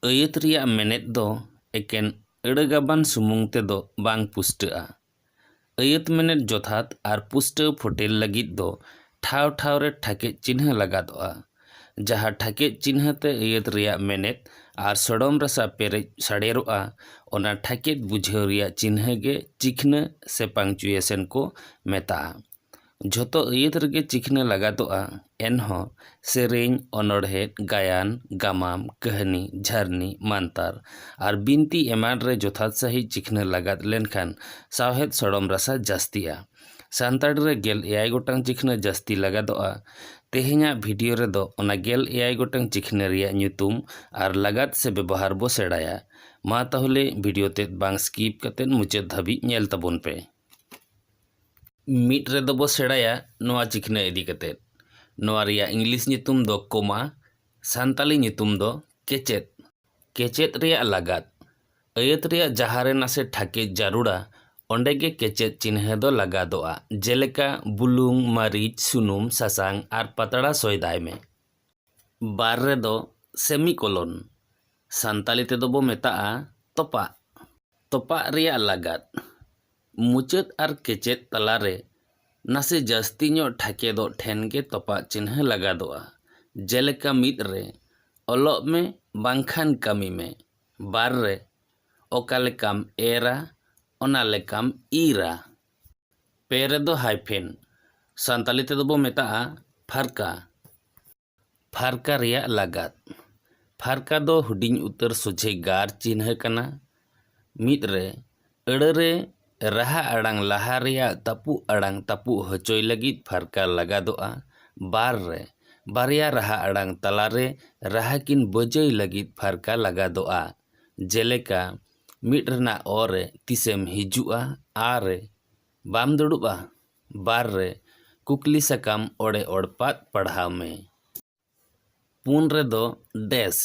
ᱟᱹᱭᱟᱹᱛ ᱨᱮᱭᱟᱜ ᱢᱮᱱᱮᱛ ᱫᱚ ᱮᱠᱮᱱ ᱟᱹᱲᱟᱹ ᱜᱟᱵᱟᱱ ᱥᱩᱢᱩᱝ ᱛᱮ ᱫᱚ ᱵᱟᱝ ᱯᱩᱥᱴᱟᱹᱜᱼᱟ᱾ ᱟᱹᱭᱟᱹᱛ ᱢᱮᱱᱮᱛ ᱡᱚᱛᱷᱟᱛ ᱟᱨ ᱯᱩᱥᱴᱟᱹᱣ ᱯᱷᱚᱴᱮᱞ ᱞᱟᱹᱜᱤᱫ ᱫᱚ ᱴᱷᱟᱶ ᱴᱷᱟᱶ ᱨᱮ ᱴᱷᱟᱠᱮᱡ ᱪᱤᱱᱦᱟᱹ ᱞᱟᱜᱟᱫᱚᱜᱼᱟ, ᱡᱟᱦᱟᱸ ᱴᱷᱟᱠᱮᱡ ᱪᱤᱱᱦᱟᱹ ᱛᱮ ᱟᱹᱭᱟᱹᱛ ᱨᱮᱭᱟᱜ ᱢᱮᱱᱮᱛ ᱟᱨ ᱥᱚᱲᱚᱢ ᱨᱟᱥᱟ ᱯᱮᱨᱮᱡ ᱥᱟᱲᱮᱨᱚᱜᱼᱟ, ᱚᱱᱟ ᱴᱷᱟᱠᱮᱡ ᱵᱩᱡᱷᱟᱹᱣ ᱨᱮᱭᱟᱜ ᱪᱤᱱᱦᱟᱹ ᱜᱮ ᱪᱤᱠᱷᱱᱟᱹ ᱥᱮ ᱯᱟᱝᱪᱩᱭᱮᱥᱚᱱ ᱠᱚ ᱢᱮᱛᱟᱜᱼᱟ᱾ ᱡᱷᱚᱛᱚ ᱟᱹᱭᱟᱹᱛ ᱨᱮᱜᱮ ᱪᱤᱠᱷᱱᱟᱹ ᱞᱟᱜᱟᱛᱚᱜᱼᱟ ᱮᱱᱦᱚᱸ ᱥᱮᱨᱮᱧ ᱚᱱᱚᱬᱦᱮᱸ ᱜᱟᱭᱟᱱ ᱜᱟᱢᱟᱢ ᱠᱟᱹᱦᱱᱤ ᱡᱷᱟᱹᱨᱱᱤ ᱢᱟᱱᱛᱟᱨ ᱟᱨ ᱵᱤᱱᱛᱤ ᱮᱢᱟᱱ ᱨᱮ ᱡᱚᱛᱷᱟᱛ ᱥᱟᱺᱦᱤᱡ ᱪᱤᱠᱷᱱᱟᱹ ᱞᱟᱜᱟᱛ ᱞᱮᱱᱠᱷᱟᱱ ᱥᱟᱶᱦᱮᱫ ᱥᱚᱲᱚᱢ ᱨᱟᱥᱟ ᱡᱟᱹᱥᱛᱤᱜᱼᱟ᱾ ᱥᱟᱱᱛᱟᱲᱤ ᱨᱮ ᱜᱮᱞ ᱮᱭᱟᱭ ᱜᱚᱴᱟᱝ ᱪᱤᱠᱷᱱᱟᱹ ᱡᱟᱹᱥᱛᱤ ᱞᱟᱜᱟᱛᱚᱜᱼᱟ᱾ ᱛᱮᱦᱮᱧᱟᱜ ᱵᱷᱤᱰᱤᱭᱳ ᱨᱮᱫᱚ ᱚᱱᱟ ᱜᱮᱞ ᱮᱭᱟᱭ ᱜᱚᱴᱟᱝ ᱪᱤᱠᱷᱱᱟᱹ ᱨᱮᱭᱟᱜ ᱧᱩᱛᱩᱢ ᱟᱨ ᱞᱟᱜᱟᱛ ᱥᱮ ᱵᱮᱵᱚᱦᱟᱨ ᱵᱚ ᱥᱮᱬᱟᱭᱟ᱾ ᱢᱟ ᱛᱟᱦᱚᱞᱮ ᱵᱷᱤᱰᱤᱭᱳ ᱛᱮᱫ ᱵᱟᱝ ᱥᱠᱤᱯ ᱠᱟᱛᱮ ᱢᱩᱪᱟᱹᱫ ᱫᱷᱟᱹᱵᱤᱡ ᱧᱮᱞ ᱛᱟᱵᱚᱱ ᱯᱮ᱾ ᱢᱤᱫ ᱨᱮᱫᱚ ᱵᱚ ᱥᱮᱬᱟᱭᱟ ᱱᱚᱣᱟ ᱪᱤᱠᱷᱱᱟᱹ ᱤᱫᱤ ᱠᱟᱛᱮᱫ ᱱᱚᱣᱟ ᱨᱮᱭᱟᱜ ᱤᱝᱞᱤᱥ ᱧᱩᱛᱩᱢ ᱫᱚ ᱠᱚᱢᱟ ᱥᱟᱱᱛᱟᱲᱤ ᱧᱩᱛᱩᱢ ᱫᱚ ᱠᱮᱪᱮᱫ ᱠᱮᱪᱮᱫ ᱨᱮᱭᱟᱜ ᱞᱟᱜᱟᱫ ᱟᱹᱭᱟᱹᱛ ᱨᱮᱭᱟᱜ ᱡᱟᱦᱟᱸ ᱨᱮ ᱱᱟᱥᱮ ᱴᱷᱟᱠᱮᱡ ᱡᱟᱹᱨᱩᱲᱟ ᱚᱸᱰᱮ ᱜᱮ ᱠᱮᱪᱮᱫ ᱪᱤᱱᱦᱟᱹ ᱫᱚ ᱞᱟᱜᱟᱫᱚᱜᱼᱟ ᱡᱮᱞᱮᱠᱟ ᱵᱩᱞᱩᱝ ᱢᱟᱹᱨᱤᱪ ᱥᱩᱱᱩᱢ ᱥᱟᱥᱟᱝ ᱟᱨ ᱯᱟᱛᱲᱟ ᱥᱚᱭᱫᱟᱭ ᱢᱮ᱾ ᱵᱟᱨ ᱨᱮᱫᱚ ᱥᱮᱢᱤ ᱠᱚᱞᱚᱱ ᱥᱟᱱᱛᱟᱲᱤ ᱛᱮᱫᱚ ᱵᱚ ᱢᱮᱛᱟᱜᱼᱟ ᱛᱚᱯᱟᱜ ᱛᱚᱯᱟᱜ ᱨᱮᱭᱟᱜ ᱞᱟᱜᱟᱫ ᱢᱩᱪᱟᱹᱫ ᱟᱨ ᱠᱮᱪᱮᱫ ᱛᱟᱞᱟ ᱨᱮ ᱱᱟᱥᱮ ᱡᱟᱹᱥᱛᱤ ᱧᱚᱜ ᱴᱷᱟᱠᱮᱫᱚᱜ ᱴᱷᱮᱱ ᱜᱮ ᱛᱚᱯᱟᱜ ᱪᱤᱱᱦᱟᱹ ᱞᱟᱜᱟᱫᱚᱜᱼᱟ, ᱡᱮᱞᱮᱠᱟ ᱢᱤᱫ ᱨᱮ, ᱚᱞᱚᱜ ᱢᱮ ᱵᱟᱝᱠᱷᱟᱱ ᱠᱟᱹᱢᱤ ᱢᱮ, ᱵᱟᱨ ᱨᱮ, ᱚᱠᱟ ᱞᱮᱠᱟᱢ ᱮᱨᱟ ᱚᱱᱟ ᱞᱮᱠᱟᱢ ᱤᱨᱟ᱾ ᱯᱮ ᱨᱮᱫᱚ ᱦᱟᱭᱯᱷᱮᱱ, ᱥᱟᱱᱛᱟᱞᱤ ᱛᱮᱫᱚ ᱵᱚ ᱢᱮᱛᱟᱜᱼᱟ ᱯᱷᱟᱨᱠᱟ᱾ ᱯᱷᱟᱨᱠᱟ ᱨᱮᱭᱟᱜ ᱞᱟᱜᱟᱫ ᱯᱷᱟᱨᱠᱟ ᱫᱚ ᱦᱩᱰᱤᱧ ᱩᱛᱟᱹᱨ ᱥᱚᱡᱷᱮ ᱜᱟᱨ ᱪᱤᱱᱦᱟᱹ ᱠᱟᱱᱟ ᱢᱤᱫ ᱨᱮ ᱟᱹᱲᱟᱹ ᱨᱮ ᱨᱟᱦᱟ ᱟᱲᱟᱝ ᱞᱟᱦᱟ ᱨᱮᱭᱟᱜ ᱛᱟᱹᱯᱩᱜ ᱟᱲᱟᱝ ᱛᱟᱹᱯᱩᱜ ᱦᱚᱪᱚᱭ ᱞᱟᱹᱜᱤᱫ ᱯᱷᱟᱨᱠᱟ ᱞᱟᱜᱟᱫᱚᱜᱼᱟ ᱵᱟᱨ ᱨᱮ ᱵᱟᱨᱭᱟ ᱨᱟᱦᱟ ᱟᱲᱟᱝ ᱛᱟᱞᱟ ᱨᱮ ᱨᱟᱦᱟ ᱠᱤᱱ ᱵᱟᱹᱡᱟᱹᱭ ᱞᱟᱹᱜᱤᱫ ᱯᱷᱟᱨᱠᱟ ᱞᱟᱜᱟᱫᱚᱜᱼᱟ ᱡᱮᱞᱮᱠᱟ ᱢᱤᱫ ᱨᱮᱱᱟᱜ ᱚ ᱨᱮ ᱛᱤᱥᱮᱢ ᱦᱤᱡᱩᱜᱼᱟ ᱟ ᱨᱮ ᱵᱟᱢ ᱫᱩᱲᱩᱵᱼᱟ ᱵᱟᱨ ᱨᱮ ᱠᱩᱠᱞᱤ ᱥᱟᱠᱟᱢ ᱚᱲᱮ ᱚᱲᱯᱟᱫ ᱯᱟᱲᱦᱟᱣ ᱢᱮ᱾ ᱯᱩᱱ ᱨᱮᱫᱚ ᱰᱮᱥ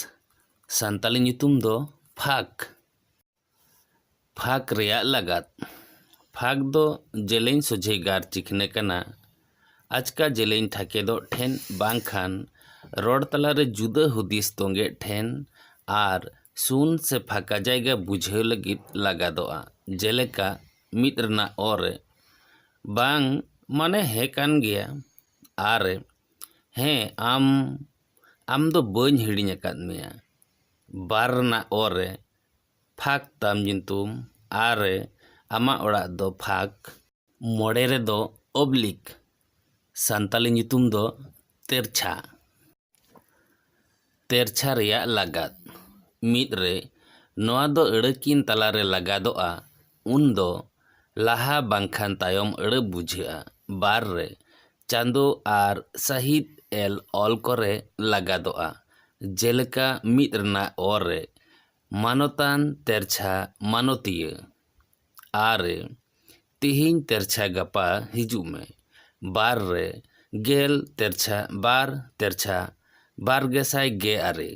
ᱥᱟᱱᱛᱟᱲᱤ ᱧᱩᱛᱩᱢ ᱫᱚ ᱯᱷᱟᱸᱠ᱾ ᱯᱷᱟᱸᱠ ᱨᱮᱭᱟᱜ ᱞᱟᱜᱟᱫ᱾ ᱯᱷᱟᱸᱠ ᱫᱚ ᱡᱮᱞᱮᱧ ᱥᱚᱡᱷᱮ ᱜᱟᱨ ᱪᱤᱠᱷᱱᱟᱹ ᱠᱟᱱᱟ᱾ ᱟᱪᱠᱟ ᱡᱮᱞᱮᱧ ᱴᱷᱟᱠᱮᱫᱚᱜ ᱴᱷᱮᱱ ᱵᱟᱝᱠᱷᱟᱱ ᱨᱚᱲ ᱛᱟᱞᱟᱨᱮ ᱡᱩᱫᱟᱹ ᱦᱩᱫᱤᱥ ᱛᱚᱸᱜᱮᱜ ᱴᱷᱮᱱ ᱟᱨ ᱥᱩᱱ ᱥᱮ ᱯᱷᱟᱸᱠᱟ ᱡᱟᱭᱜᱟ ᱵᱩᱡᱷᱟᱹᱣ ᱞᱟᱹᱜᱤᱫ ᱞᱟᱜᱟᱫᱚᱜᱼᱟ᱾ ᱡᱮᱞᱮᱠᱟ᱾ ᱢᱤᱫ ᱨᱮᱱᱟᱜ ᱚ ᱨᱮ ᱵᱟᱝ ᱢᱟᱱᱮ ᱦᱮᱸ ᱠᱟᱱ ᱜᱮᱭᱟ ᱟ ᱨᱮ ᱦᱮᱸ ᱟᱢ ᱟᱢ ᱫᱚ ᱵᱟᱹᱧ ᱦᱤᱲᱤᱧ ᱟᱠᱟᱫ ᱢᱮᱭᱟ ᱵᱟᱨ ᱨᱮᱱᱟᱜ ᱚ ᱨᱮ ᱯᱷᱟᱸᱠ ᱛᱟᱢ ᱧᱩᱛᱩᱢ ᱟ ᱨᱮ ᱟᱢᱟᱜ ᱚᱲᱟᱜ ᱫᱚ ᱯᱷᱟᱸᱠ ᱢᱚᱬᱮ ᱨᱮᱫᱚ ᱚᱵᱽᱞᱤᱠ ᱥᱟᱱᱛᱟᱞᱤ ᱧᱩᱛᱩᱢ ᱫᱚ ᱛᱮᱨᱪᱷᱟ ᱛᱮᱨᱪᱷᱟ ᱨᱮᱭᱟᱜ ᱞᱟᱜᱟᱫ᱾ ᱢᱤᱫ ᱨᱮ, ᱱᱚᱣᱟ ᱫᱚ ᱟᱹᱲᱟᱹ ᱠᱤᱱ ᱛᱟᱞᱟ ᱨᱮ ᱞᱟᱜᱟᱫᱚᱜᱼᱟ, ᱩᱱ ᱫᱚ ᱞᱟᱦᱟ ᱵᱟᱝᱠᱷᱟᱱ ᱛᱟᱭᱚᱢ ᱟᱹᱲᱟᱹ ᱵᱩᱡᱷᱟᱹᱜᱼᱟ᱾ ᱵᱟᱨ ᱨᱮ, ᱪᱟᱸᱫᱚ ᱟᱨ ᱥᱟᱹᱦᱤᱛ ᱮᱞ ᱚᱞ ᱠᱚᱨᱮ ᱞᱟᱜᱟᱫᱚᱜᱼᱟ, ᱡᱮᱞᱮᱠᱟ ᱢᱤᱫ ᱨᱮᱱᱟᱜ ᱚ ᱨᱮ, ᱢᱟᱱᱚᱛᱟᱱ ᱛᱮᱨᱪᱷᱟ ᱢᱟᱱᱚᱛᱤᱭᱟᱹ᱾ ᱟᱨ ᱨᱮ ᱛᱤᱦᱤᱧ ᱛᱮᱨᱪᱷᱟ ᱜᱟᱯᱟ ᱦᱤᱡᱩᱜ ᱢᱮ ᱵᱟᱨ ᱨᱮ ᱜᱮᱞ ᱛᱮᱨᱪᱷᱟ ᱵᱟᱨ ᱛᱮᱨᱪᱷᱟ ᱵᱟᱨ ᱜᱮ ᱥᱟᱭ ᱜᱮ ᱟᱨᱮ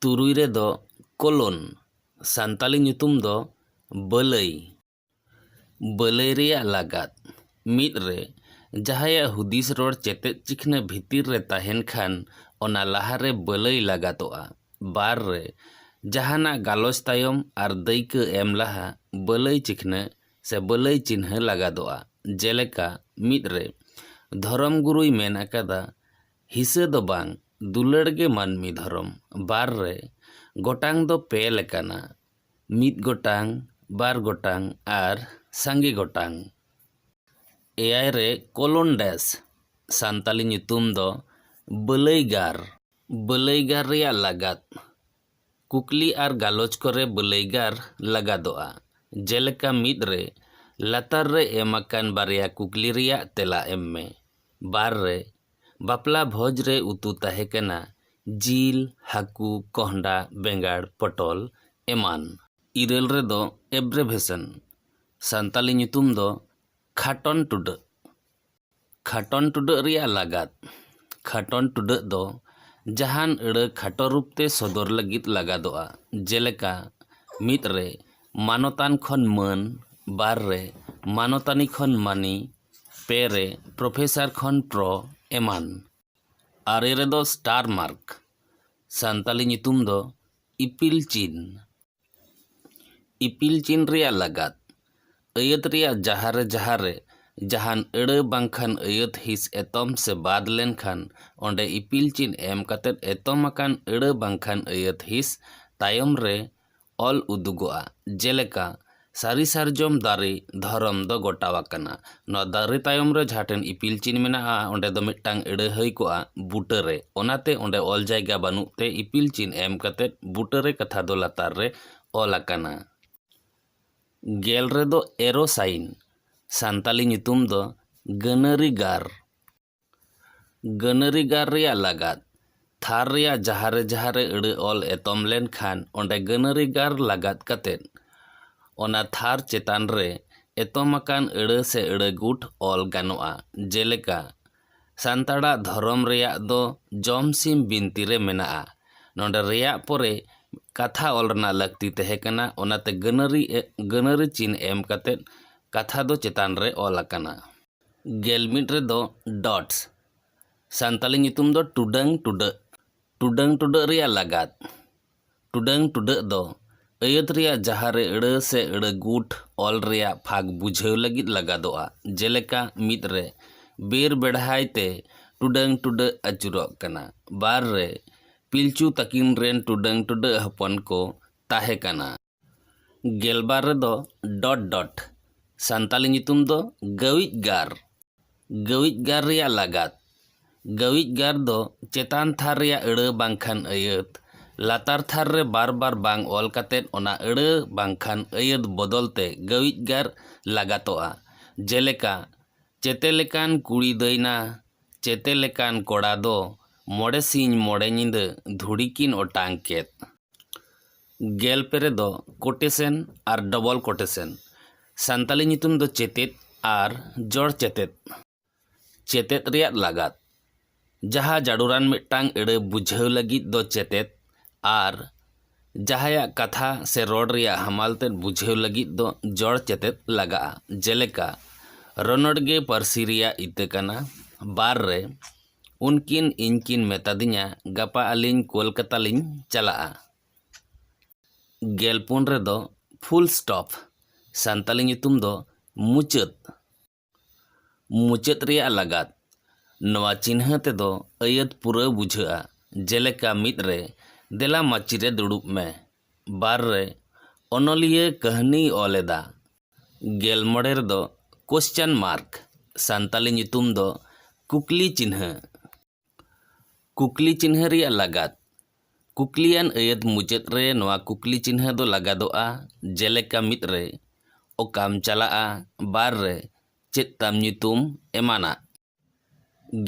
ᱛᱩᱨᱩᱭ ᱨᱮᱫᱚ ᱠᱚᱞᱚᱱ ᱥᱟᱱᱛᱟᱲᱤ ᱧᱩᱛᱩᱢ ᱫᱚ ᱵᱟᱹᱞᱟᱹᱭ ᱵᱟᱹᱞᱟᱹᱭ ᱨᱮᱭᱟᱜ ᱞᱟᱜᱟᱫ ᱢᱤᱫ ᱨᱮ ᱡᱟᱦᱟᱸᱭᱟᱜ ᱦᱩᱫᱤᱥ ᱨᱚᱲ ᱪᱮᱛᱮᱫ ᱪᱤᱠᱷᱱᱟᱹ ᱵᱷᱤᱛᱤᱨ ᱨᱮ ᱛᱟᱦᱮᱱ ᱠᱷᱟᱱ ᱚᱱᱟ ᱞᱟᱦᱟᱨᱮ ᱵᱟᱹᱞᱟᱹᱭ ᱞᱟᱜᱟᱛᱚᱜᱼᱟ ᱵᱟᱨ ᱨᱮ ᱡᱟᱦᱟᱱᱟᱜ ᱜᱟᱞᱚᱪ ᱛᱟᱭᱚᱢ ᱟᱨ ᱫᱟᱹᱭᱠᱟᱹ ᱮᱢ ᱞᱟᱦᱟ ᱵᱟᱹᱞᱟᱹᱭ ᱪᱤᱠᱷᱱᱟᱹ ᱥᱮ ᱵᱟᱹᱞᱟᱹᱭ ᱪᱤᱱᱦᱟᱹ ᱞᱟᱜᱟᱫᱚᱜᱼᱟ, ᱡᱮᱞᱮᱠᱟ, ᱢᱤᱫ ᱨᱮ, ᱫᱷᱚᱨᱚᱢ ᱜᱩᱨᱩᱭ ᱢᱮᱱ ᱟᱠᱟᱫᱟ, ᱦᱤᱥᱟᱹ ᱫᱚ ᱵᱟᱝ, ᱫᱩᱞᱟᱹᱲ ᱜᱮ ᱢᱟᱹᱱᱢᱤ ᱫᱷᱚᱨᱚᱢ᱾ ᱵᱟᱨ ᱨᱮ, ᱜᱚᱴᱟᱝ ᱫᱚ ᱯᱮ ᱞᱮᱠᱟᱱᱟ, ᱢᱤᱫ ᱜᱚᱴᱟᱝ, ᱵᱟᱨ ᱜᱚᱴᱟᱝ ᱟᱨ ᱥᱟᱸᱜᱮ ᱜᱚᱴᱟᱝ᱾ ᱮᱭᱟᱭ ᱨᱮ, ᱠᱳᱞᱳᱱ ᱰᱮᱥ, ᱥᱟᱱᱛᱟᱞᱤ ᱧᱩᱛᱩᱢ ᱫᱚ ᱵᱟᱹᱞᱟᱹᱭ ᱜᱟᱨ᱾ ᱵᱟᱹᱞᱟᱹᱭᱜᱟᱨ ᱨᱮᱭᱟᱜ ᱞᱟᱜᱟᱫ, ᱠᱩᱠᱞᱤ ᱟᱨ ᱜᱟᱞᱚᱪ ᱠᱚᱨᱮ ᱵᱟᱹᱞᱟᱹᱭᱜᱟᱨ ᱞᱟᱜᱟᱫᱚᱜᱼᱟ, ᱡᱮᱞᱮᱠᱟ ᱢᱤᱫ ᱨᱮ, ᱞᱟᱛᱟᱨ ᱨᱮ ᱮᱢ ᱟᱠᱟᱱ ᱵᱟᱨᱭᱟ ᱠᱩᱠᱞᱤ ᱨᱮᱭᱟᱜ ᱛᱮᱞᱟ ᱮᱢ ᱢᱮ᱾ ᱵᱟᱨ ᱨᱮ, ᱵᱟᱯᱞᱟ ᱵᱷᱚᱡᱽ ᱨᱮ ᱩᱛᱩ ᱛᱟᱦᱮᱸ ᱠᱟᱱᱟ ᱡᱤᱞ, ᱦᱟᱹᱠᱩ, ᱠᱚᱸᱦᱰᱟ, ᱵᱮᱸᱜᱟᱲ, ᱯᱚᱴᱚᱞ ᱮᱢᱟᱱ᱾ ᱤᱨᱟᱹᱞ ᱨᱮ ᱫᱚ ᱮᱵᱽᱨᱮᱵᱷᱮᱥᱚᱱ, ᱥᱟᱱᱛᱟᱞᱤ ᱧᱩᱛᱩᱢ ᱫᱚ ᱠᱷᱟᱴᱚᱱ ᱴᱩᱰᱟᱹᱜ, ᱠᱷᱟᱴᱚᱱ ᱴᱩᱰᱟᱹᱜ ᱨᱮᱭᱟᱜ ᱞᱟᱜᱟᱫ ᱠᱷᱟᱴᱚᱱ ᱴᱩᱰᱟᱹᱜ ᱫᱚ ᱡᱟᱦᱟᱱ ᱟᱹᱲᱟᱹ ᱠᱷᱟᱴᱚ ᱨᱩᱯ ᱛᱮ ᱥᱚᱫᱚᱨ ᱞᱟᱹᱜᱤᱫ ᱞᱟᱜᱟᱫᱚᱜᱼᱟ ᱡᱮᱞᱮᱠᱟ ᱢᱤᱫ ᱨᱮ ᱢᱟᱱᱚᱛᱟᱱ ᱠᱷᱚᱱ ᱢᱟᱹᱱ ᱵᱟᱨ ᱨᱮ ᱢᱟᱱᱚᱛᱟᱱᱤ ᱠᱷᱚᱱ ᱢᱟᱹᱱᱤ ᱯᱮ ᱨᱮ ᱯᱨᱚᱯᱷᱮᱥᱟᱨ ᱠᱷᱚᱱ ᱯᱨᱚ ᱮᱢᱟᱱ ᱟᱨᱮ ᱨᱮᱫᱚ ᱥᱴᱟᱨ ᱢᱟᱨᱠ ᱥᱟᱱᱛᱟᱲᱤ ᱧᱩᱛᱩᱢ ᱫᱚ ᱤᱯᱤᱞ ᱪᱤᱱ ᱤᱯᱤᱞ ᱪᱤᱱ ᱨᱮᱭᱟᱜ ᱞᱟᱜᱟᱫ᱾ ᱟᱹᱭᱟᱹᱛ ᱨᱮᱭᱟᱜ ᱡᱟᱦᱟᱸ ᱨᱮ ᱡᱟᱦᱟᱸ ᱨᱮ ᱡᱟᱦᱟᱱ ᱟᱹᱲᱟᱹ ᱵᱟᱝᱠᱷᱟᱱ ᱟᱹᱭᱟᱹᱛ ᱦᱤᱸᱥ ᱮᱛᱚᱢ ᱥᱮ ᱵᱟᱫᱽ ᱞᱮᱱᱠᱷᱟᱱ ᱚᱸᱰᱮ ᱤᱯᱤᱞ ᱪᱤᱱ ᱮᱢ ᱠᱟᱛᱮ ᱮᱛᱚᱢ ᱟᱠᱟᱱ ᱟᱹᱲᱟᱹ ᱵᱟᱝᱠᱷᱟᱱ ᱟᱹᱭᱟᱹᱛ ᱦᱤᱸᱥ ᱛᱟᱭᱚᱢ ᱨᱮ ᱚᱞ ᱩᱫᱩᱜᱚᱜᱼᱟ, ᱡᱮᱞᱮᱠᱟ, ᱥᱟᱹᱨᱤ ᱥᱟᱨᱡᱚᱢ ᱫᱟᱨᱮ ᱫᱷᱚᱨᱚᱢ ᱫᱚ ᱜᱚᱴᱟ ᱟᱠᱟᱱᱟ ᱱᱚᱣᱟ ᱫᱟᱨᱮ ᱛᱟᱭᱚᱢ ᱨᱮ ᱡᱟᱦᱟᱸ ᱴᱷᱮᱱ ᱤᱯᱤᱞ ᱪᱤᱱ ᱢᱮᱱᱟᱜᱼᱟ ᱚᱸᱰᱮ ᱫᱚ ᱢᱤᱫᱴᱟᱝ ᱟᱹᱲᱟᱹ ᱦᱩᱭ ᱠᱚᱜᱼᱟ ᱵᱩᱴᱟᱹ ᱨᱮ ᱚᱱᱟᱛᱮ ᱚᱸᱰᱮ ᱚᱞ ᱡᱟᱭᱜᱟ ᱵᱟᱹᱱᱩᱜ ᱛᱮ ᱤᱯᱤᱞ ᱪᱤᱱ ᱮᱢ ᱠᱟᱛᱮ ᱵᱩᱴᱟᱹ ᱨᱮ ᱠᱟᱛᱷᱟ ᱫᱚ ᱞᱟᱛᱟᱨ ᱨᱮ ᱚᱞ ᱟᱠᱟᱱᱟ᱾ ᱜᱮᱞ ᱨᱮᱫᱚ ᱮᱨᱳ ᱥᱟᱭᱤᱱ ᱥᱟᱱᱛᱟᱞᱤ ᱧᱩᱛᱩᱢ ᱫᱚ ᱜᱟᱹᱱᱟᱹᱨᱤ ᱜᱟᱨ᱾ ᱜᱟᱹᱱᱟᱹᱨᱤ ᱜᱟᱨ ᱨᱮᱭᱟᱜ ᱞᱟᱜᱟᱫ᱾ ᱛᱷᱟᱨ ᱨᱮᱭᱟᱜ ᱡᱟᱦᱟᱸ ᱨᱮ ᱡᱟᱦᱟᱸ ᱨᱮ ᱟᱹᱲᱟᱹ ᱚᱞ ᱮᱛᱚᱢ ᱞᱮᱱ ᱠᱷᱟᱱ ᱚᱸᱰᱮ ᱜᱟᱹᱱᱟᱹᱨᱤ ᱜᱟᱨ ᱞᱟᱜᱟᱫ ᱠᱟᱛᱮ ᱚᱱᱟ ᱛᱷᱟᱨ ᱪᱮᱛᱟᱱ ᱨᱮ ᱮᱛᱚᱢ ᱟᱠᱟᱱ ᱟᱹᱲᱟᱹ ᱥᱮ ᱟᱹᱲᱟᱹ ᱜᱩᱴ ᱚᱞ ᱜᱟᱱᱚᱜᱼᱟ᱾ ᱡᱮᱞᱮᱠᱟ, ᱥᱟᱱᱛᱟᱲᱟᱜ ᱫᱷᱚᱨᱚᱢ ᱨᱮᱭᱟᱜ ᱫᱚ ᱡᱚᱢ ᱥᱤᱢ ᱵᱤᱱᱛᱤ ᱨᱮ ᱢᱮᱱᱟᱜᱼᱟ᱾ ᱱᱚᱸᱰᱮ ᱨᱮᱭᱟᱜ ᱯᱚᱨᱮ ᱠᱟᱛᱷᱟ ᱚᱞ ᱨᱮᱱᱟᱜ ᱞᱟᱹᱠᱛᱤ ᱛᱟᱦᱮᱸ ᱠᱟᱱᱟ ᱚᱱᱟᱛᱮ ᱜᱟᱹᱱᱟᱹᱨᱤ ᱜᱟᱹᱱᱟᱹᱨᱤ ᱪᱤᱱ ᱮᱢ ᱠᱟᱛᱮ ᱠᱟᱛᱷᱟ ᱫᱚ ᱪᱮᱛᱟᱱ ᱨᱮ ᱚᱞ ᱟᱠᱟᱱᱟ᱾ ᱜᱮᱞ ᱢᱤᱫ ᱨᱮᱫᱚ ᱰᱚᱴᱥ ᱥᱟᱱᱛᱟᱞᱤ ᱧᱩᱛᱩᱢ ᱫᱚ ᱴᱩᱰᱟᱹᱝ ᱴᱩᱰᱟᱹᱜ ᱴᱩᱰᱟᱹᱝ ᱴᱩᱰᱟᱹᱜ ᱨᱮᱭᱟᱜ ᱞᱟᱜᱟᱫ ᱴᱩᱰᱟᱹᱝ ᱴᱩᱰᱟᱹᱜ ᱫᱚ ᱟᱹᱭᱟᱹᱛ ᱨᱮᱭᱟᱜ ᱡᱟᱦᱟᱸ ᱨᱮ ᱟᱹᱲᱟᱹ ᱥᱮ ᱟᱹᱲᱟᱹ ᱜᱩᱴ ᱚᱞ ᱨᱮᱭᱟᱜ ᱯᱷᱟᱸᱠ ᱵᱩᱡᱷᱟᱹᱣ ᱞᱟᱹᱜᱤᱫ ᱞᱟᱜᱟᱫᱚᱜᱼᱟ ᱡᱮᱞᱮᱠᱟ ᱢᱤᱫ ᱨᱮ ᱵᱮᱨ ᱵᱮᱲᱦᱟᱭ ᱛᱮ ᱴᱩᱰᱟᱹᱝ ᱴᱩᱰᱟᱹᱜ ᱟᱹᱪᱩᱨᱚᱜ ᱠᱟᱱᱟ ᱵᱟᱨ ᱨᱮ ᱯᱤᱞᱪᱩ ᱛᱟᱹᱠᱤᱱ ᱨᱮᱱ ᱴᱩᱰᱟᱹᱝ ᱴᱩᱰᱟᱹᱜ ᱦᱚᱯᱚᱱ ᱠᱚ ᱛᱟᱦᱮᱸ ᱠᱟᱱᱟ ᱜᱮᱞᱵᱟᱨ ᱨᱮᱫᱚ ᱰᱚᱴ ᱰᱚᱴ ᱥᱟᱱᱛᱟᱞᱤ ᱧᱩᱛᱩᱢ ᱫᱚ ᱜᱟᱹᱣᱤᱡ ᱜᱟᱨ ᱜᱟᱹᱣᱤᱡ ᱜᱟᱨ ᱨᱮᱭᱟᱜ ᱞᱟᱜᱟᱛ ᱜᱟᱹᱣᱤᱡ ᱜᱟᱨ ᱫᱚ ᱪᱮᱛᱟᱱ ᱛᱷᱟᱨ ᱨᱮᱭᱟᱜ ᱟᱹᱲᱟᱹ ᱵᱟᱝᱠᱷᱟᱱ ᱟᱹᱭᱟᱹᱛ ᱞᱟᱛᱟᱨ ᱛᱷᱟᱨ ᱨᱮ ᱵᱟᱨ ᱵᱟᱨ ᱵᱟᱝ ᱚᱞ ᱠᱟᱛᱮ ᱚᱱᱟ ᱟᱹᱲᱟᱹ ᱵᱟᱝᱠᱷᱟᱱ ᱟᱹᱭᱟᱹᱛ ᱵᱚᱫᱚᱞ ᱛᱮ ᱜᱟᱹᱣᱤᱡ ᱜᱟᱨ ᱞᱟᱜᱟᱛᱚᱜᱼᱟ ᱡᱮᱞᱮᱠᱟ ᱪᱮᱛᱮ ᱞᱮᱠᱟᱱ ᱠᱩᱲᱤ ᱫᱟᱹᱭᱱᱟ ᱪᱮᱛᱮ ᱞᱮᱠᱟᱱ ᱠᱚᱲᱟ ᱫᱚ ᱢᱚᱬᱮ ᱥᱤᱧ ᱢᱚᱬᱮ ᱧᱤᱫᱟᱹ ᱫᱷᱩᱲᱤ ᱠᱤᱱ ᱚᱴᱟᱝ ᱠᱮᱫ᱾ ᱜᱮᱞ ᱯᱮ ᱨᱮᱫᱚ ᱠᱳᱴᱮᱥᱮᱱ ᱟᱨ ᱰᱚᱵᱚᱞ ᱠᱳᱴᱮᱥᱮᱱ, ᱥᱟᱱᱛᱟᱞᱤ ᱧᱩᱛᱩᱢ ᱫᱚ ᱪᱮᱛᱮᱫ ᱟᱨ ᱡᱚᱲ ᱪᱮᱛᱮᱫ, ᱪᱮᱛᱮᱫ ᱨᱮᱭᱟᱜ ᱞᱟᱜᱟᱫ, ᱡᱟᱦᱟ ᱡᱟᱲᱩᱨᱟᱱ ᱢᱤᱫᱴᱟᱝ ᱟᱹᱲᱟᱹ ᱵᱩᱡᱷᱟᱹᱣ ᱞᱟᱹᱜᱤᱫ ᱫᱚ ᱪᱮᱛᱮᱫ ᱟᱨ ᱡᱟᱦᱟᱭᱟᱜ ᱠᱟᱛᱷᱟ ᱥᱮ ᱨᱚᱲ ᱨᱮᱭᱟᱜ ᱦᱟᱢᱟᱞ ᱛᱮᱫ ᱵᱩᱡᱷᱟᱹᱣ ᱞᱟᱹᱜᱤᱫ ᱫᱚ ᱡᱚᱲ ᱪᱮᱛᱮᱫ ᱞᱟᱜᱟᱜᱼᱟ, ᱡᱮᱞᱮᱠᱟ, ᱨᱚᱱᱚᱲ ᱜᱮ ᱯᱟᱹᱨᱥᱤ ᱨᱮᱭᱟᱜ ᱤᱛᱟᱹ ᱠᱟᱱᱟ, ᱵᱟᱨ ᱨᱮ᱾ ᱩᱱᱠᱤᱱ ᱤᱧ ᱠᱤᱱ ᱢᱮᱛᱟᱫᱤᱧᱟ ᱜᱟᱯᱟ ᱟᱹᱞᱤᱧ ᱠᱚᱞᱠᱟᱛᱟ ᱞᱤᱧ ᱪᱟᱞᱟᱜᱼᱟ᱾ ᱜᱮᱞ ᱯᱩᱱ ᱨᱮᱫᱚ ᱯᱷᱩᱞ ᱥᱴᱚᱯ, ᱥᱟᱱᱛᱟᱞᱤ ᱧᱩᱛᱩᱢ ᱫᱚ ᱢᱩᱪᱟᱹᱫ, ᱢᱩᱪᱟᱹᱫ ᱨᱮᱭᱟᱜ ᱞᱟᱜᱟᱫ, ᱱᱚᱣᱟ ᱪᱤᱱᱦᱟᱹ ᱛᱮᱫᱚ ᱟᱹᱭᱟᱹᱛ ᱯᱩᱨᱟᱹᱣ ᱵᱩᱡᱷᱟᱹᱜᱼᱟ, ᱡᱮᱞᱮᱠᱟ ᱢᱤᱫ ᱨᱮ ᱫᱮᱞᱟ ᱢᱟᱹᱪᱤ ᱨᱮ ᱫᱩᱲᱩᱵ ᱢᱮ, ᱵᱟᱨ ᱨᱮ ᱚᱱᱚᱞᱤᱭᱟᱹ ᱠᱟᱹᱦᱱᱤᱭ ᱚᱞ ᱮᱫᱟ, ᱜᱮᱞ ᱢᱚᱬᱮ ᱨᱮᱫᱚ ᱠᱚᱥᱪᱟᱱ ᱢᱟᱨᱠ ᱥᱟᱱᱛᱟᱞᱤ ᱧᱩᱛᱩᱢ ᱫᱚ ᱠᱩᱠᱞᱤ ᱪᱤᱱᱦᱟᱹ ᱠᱩᱠᱞᱤ ᱪᱤᱱᱦᱟᱹ ᱨᱮᱭᱟᱜ ᱞᱟᱜᱟᱫ ᱠᱩᱠᱞᱤᱭᱟᱱ ᱟᱹᱭᱟᱹᱛ ᱢᱩᱪᱟᱹᱫ ᱨᱮ ᱱᱚᱣᱟ ᱠᱩᱠᱞᱤ ᱪᱤᱱᱦᱟᱹ ᱫᱚ ᱞᱟᱜᱟᱫᱚᱜᱼᱟ ᱡᱮᱞᱮᱠᱟ ᱢᱤᱫ ᱨᱮ ᱚᱠᱟᱢ ᱪᱟᱞᱟᱜᱼᱟ ᱵᱟᱨ ᱨᱮ ᱪᱮᱫ ᱛᱟᱢ ᱧᱩᱛᱩᱢ ᱮᱢᱟᱱᱟᱜ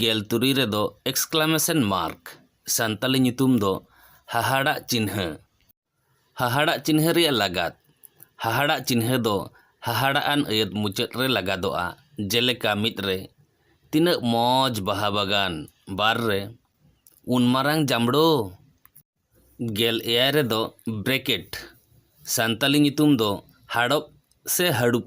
ᱜᱮᱞ ᱛᱩᱨᱩᱭ ᱨᱮᱫᱚ ᱮᱠᱥᱠᱞᱟᱢᱮᱥᱚᱱ ᱢᱟᱨᱠ, ᱥᱟᱱᱛᱟᱞᱤ ᱧᱩᱛᱩᱢ ᱫᱚ ᱦᱟᱦᱟᱲᱟᱜ ᱪᱤᱱᱦᱟᱹ, ᱦᱟᱦᱟᱲᱟᱜ ᱪᱤᱱᱦᱟᱹ ᱨᱮᱭᱟᱜ ᱞᱟᱜᱟᱫ, ᱦᱟᱦᱟᱲᱟᱜ ᱪᱤᱱᱦᱟᱹ ᱫᱚ ᱦᱟᱦᱟᱲᱟᱜ ᱟᱱ ᱟᱹᱭᱟᱹᱛ ᱢᱩᱪᱟᱹᱫ ᱨᱮ ᱞᱟᱜᱟᱫᱚᱜᱼᱟ, ᱡᱮᱞᱮᱠᱟ ᱢᱤᱫ ᱨᱮ, ᱛᱤᱱᱟᱹᱜ ᱢᱚᱡᱽ ᱵᱟᱦᱟ ᱵᱟᱜᱟᱱ! ᱵᱟᱨ ᱨᱮ, ᱩᱱ ᱢᱟᱨᱟᱝ ᱡᱟᱢᱲᱳ! ᱜᱮᱞ ᱮᱭᱟᱭ ᱨᱮᱫᱚ ᱵᱨᱮᱠᱮᱴ, ᱥᱟᱱᱛᱟᱞᱤ ᱧᱩᱛᱩᱢ ᱫᱚ ᱦᱟᱲᱚᱵ ᱥᱮ ᱦᱟᱹᱲᱩᱵ᱾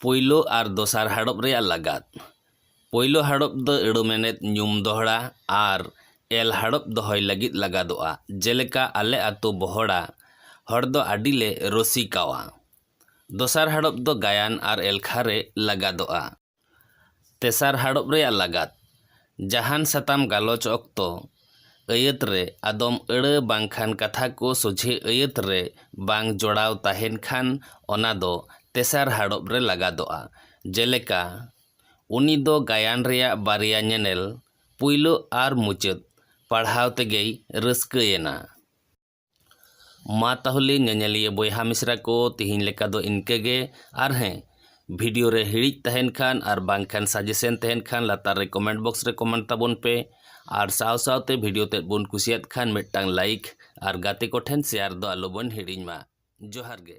ᱯᱳᱭᱞᱳ ᱟᱨ ᱫᱚᱥᱟᱨ ᱦᱟᱲᱚᱵ ᱨᱮᱭᱟᱜ ᱞᱟᱜᱟᱛ ᱯᱳᱭᱞᱳ ᱦᱟᱲᱚᱵ ᱫᱚ ᱟᱹᱲᱟᱹ ᱢᱮᱱᱮᱛ ᱧᱩᱢ ᱫᱚᱦᱲᱟ ᱟᱨ ᱮᱞ ᱦᱟᱲᱚᱵ ᱫᱚᱦᱚᱭ ᱞᱟᱹᱜᱤᱫ ᱞᱟᱜᱟᱫᱚᱜᱼᱟ ᱡᱮᱞᱮᱠᱟ ᱟᱞᱮ ᱟᱛᱳ ᱵᱚᱦᱚᱲᱟ ᱦᱚᱲ ᱫᱚ ᱟᱹᱰᱤ ᱞᱮ ᱨᱩᱥᱤᱠᱟᱣᱟ ᱫᱚᱥᱟᱨ ᱦᱟᱲᱚᱵ ᱫᱚ ᱜᱟᱭᱟᱱ ᱟᱨ ᱮᱞᱠᱷᱟ ᱨᱮ ᱞᱟᱜᱟᱫᱚᱜᱼᱟ ᱛᱮᱥᱟᱨ ᱦᱟᱲᱚᱵ ᱨᱮᱭᱟᱜ ᱞᱟᱜᱟᱛ, ᱡᱟᱦᱟᱱ ᱥᱟᱛᱟᱢ ᱜᱟᱞᱚᱪ ᱚᱠᱛᱚ, ᱟᱹᱭᱟᱹᱛ ᱨᱮ ᱟᱫᱚᱢ ᱟᱹᱲᱟᱹ ᱵᱟᱝᱠᱷᱟᱱ ᱠᱟᱛᱷᱟ ᱠᱚ ᱥᱚᱡᱷᱮ ᱟᱹᱭᱟᱹᱛ ᱨᱮ ᱵᱟᱝ ᱡᱚᱲᱟᱣ ᱛᱟᱦᱮᱱ ᱠᱷᱟᱱ ᱚᱱᱟ ᱫᱚ ᱛᱮᱥᱟᱨ ᱦᱟᱲᱚᱵ ᱨᱮ ᱞᱟᱜᱟᱫᱚᱜᱼᱟ᱾ ᱡᱮᱞᱮᱠᱟ, ᱩᱱᱤ ᱫᱚ ᱜᱟᱭᱟᱱ ᱨᱮᱭᱟᱜ ᱵᱟᱨᱭᱟ ᱧᱮᱱᱮᱞ, ᱯᱩᱭᱞᱩ ᱟᱨ ᱢᱩᱪᱟᱹᱫ, ᱯᱟᱲᱦᱟᱣ ᱛᱮᱜᱮᱭ ᱨᱟᱹᱥᱠᱟᱹ ᱮᱱᱟ᱾ ᱢᱟ ᱛᱟᱦᱚᱞᱮ ᱧᱮᱧᱮᱞᱤᱭᱟᱹ ᱵᱚᱭᱦᱟ ᱢᱤᱥᱨᱟ ᱠᱚ ᱛᱤᱦᱤᱧ ᱞᱮᱠᱟ ᱫᱚ ᱤᱱᱠᱟᱹ ᱜᱮ ᱟᱨ ᱦᱮᱸ ᱵᱷᱤᱰᱤᱭᱳ ᱨᱮ ᱦᱤᱲᱤᱡ ᱛᱟᱦᱮᱱ ᱠᱷᱟᱱ ᱟᱨ ᱵᱟᱝᱠᱷᱟᱱ ᱥᱟᱡᱮᱥᱮᱱ ᱛᱟᱦᱮᱱ ᱠᱷᱟᱱ ᱞᱟᱛᱟᱨ ᱨᱮ ᱠᱚᱢᱮᱱᱴ ᱵᱚᱠᱥ ᱨᱮ ᱠᱚᱢᱮᱱᱴ ᱛᱟᱵᱚᱱ ᱯᱮ ᱟᱨ ᱥᱟᱶ ᱥᱟᱶᱛᱮ ᱵᱷᱤᱰᱤᱭᱳ ᱛᱮᱫ ᱵᱚᱱ ᱠᱩᱥᱤᱭᱟᱫ ᱠᱷᱟᱱ ᱢᱤᱫᱴᱟᱝ ᱞᱟᱭᱤᱠ ᱟᱨ ᱜᱟᱛᱮ ᱠᱚᱴᱷᱮᱱ ᱥᱮᱭᱟᱨ ᱫᱚ ᱟᱞᱚᱵᱚᱱ ᱦᱤᱲᱤᱧ ᱢᱟ ᱡᱚᱦᱟᱨ ᱜᱮ